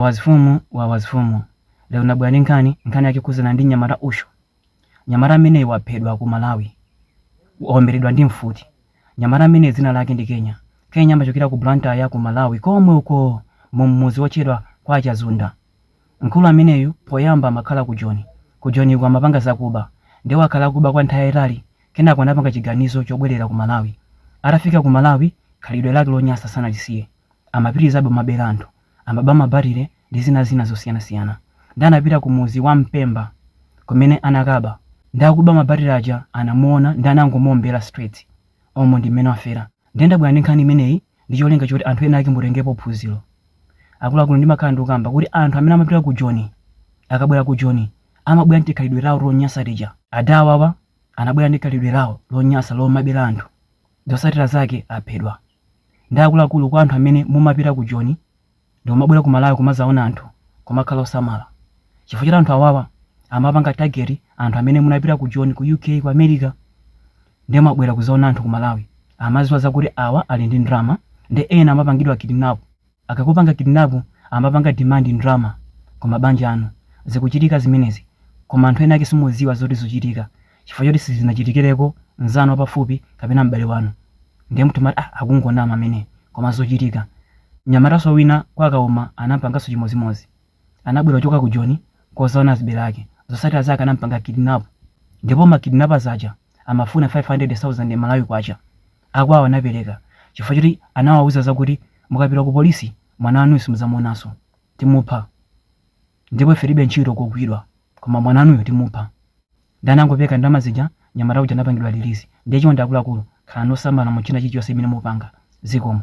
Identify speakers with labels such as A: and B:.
A: Wazifumu wa wazifumu lero ndabwera ndi nkhani, nkhani yake ikukhudzana ndi mnyamata uyo. Mnyamata ameneyi waphedwa ku Malawi, waomberedwa ndi mfuti. Mnyamata ameneyi dzina lake ndi Kenya. Kenya amachokera ku Blantyre ku Malawi komwe uko m'mudzi wotchedwa kwa Chazunda. Mkulu ameneyu poyamba amakhala ku Joni. Ku Joniko amapanga zakuba. Ndiye wakhala akuba kwa nthawi yayitali kenako anapanga chiganizo chobwerera ku Malawi. Atafika ku Malawi khalidwe lake lonyansa sanalisiye. Amapitirizabe kumabera anthu. amaba mabatire ndi zina zina zosiyanasiyana nde anapita ku mudzi wa Mpemba kumene anakaba nde akuba mabatire aja anamuona nde anangomuombela straight umu ndi mmene wafera nde ndabwera ndi nkhani imeneyi ndi cholinga choti anthu ena ake mutengepo phunziro akuluakulu ndimakhala ndikukamba kuti anthu amene amapita ku Joni akabwera ku Joni amabwera ndi tikhalidwe tawo tonyasa tija ada awawa anabwera ndi khalidwe lawo lonyasa lomabela anthu zosatira zake aphedwa. nde akuluakulu kwa anthu amene mumapita ku joni ndikumabwera ku malawi kumazaona anthu kumakhala osamala chifukwa choti anthu awawa amapanga target anthu amene munapita ku joni ku uk ku america ndiye mwabwera kuzaona anthu ku malawi amaziwa zakuti awa ali ndi ndrama nde ena amapangidwa kidnap Akakupanga kidnap amapanga demand ndrama kumabanja anu. Zikuchitika zimenezi koma anthu enaake simudziwa zoti zuchitika chifukwa choti sizinachitikireko nzanu wapafupi kapena m'bale wanu ndiye mumati ah akungonama ameneyi koma zuchitika. Mnyamataso wina kwa Kauma anampangaso chimodzimodzi. Anabwera kuchoka ku Joni kuzaona azibale ake. Zotsatira zake anampanga kidnap ndipo ma kidnappers aja amafuna 500,000 Malawi kwacha. Akwawo anapereka chifukwa choti anawauza zakuti mukapita ku polisi mwana wanuyu simudzamuonanso, timupha ndipo ife tilibe ntchito kugwidwa koma mwana wanuyo timupha. Nde anangopereka ndalama zija mnyamata uja anapangidwa release. Nde chonde akuluakulu khalani osamala mu china chilichonse chimene mupanga. Zikomo.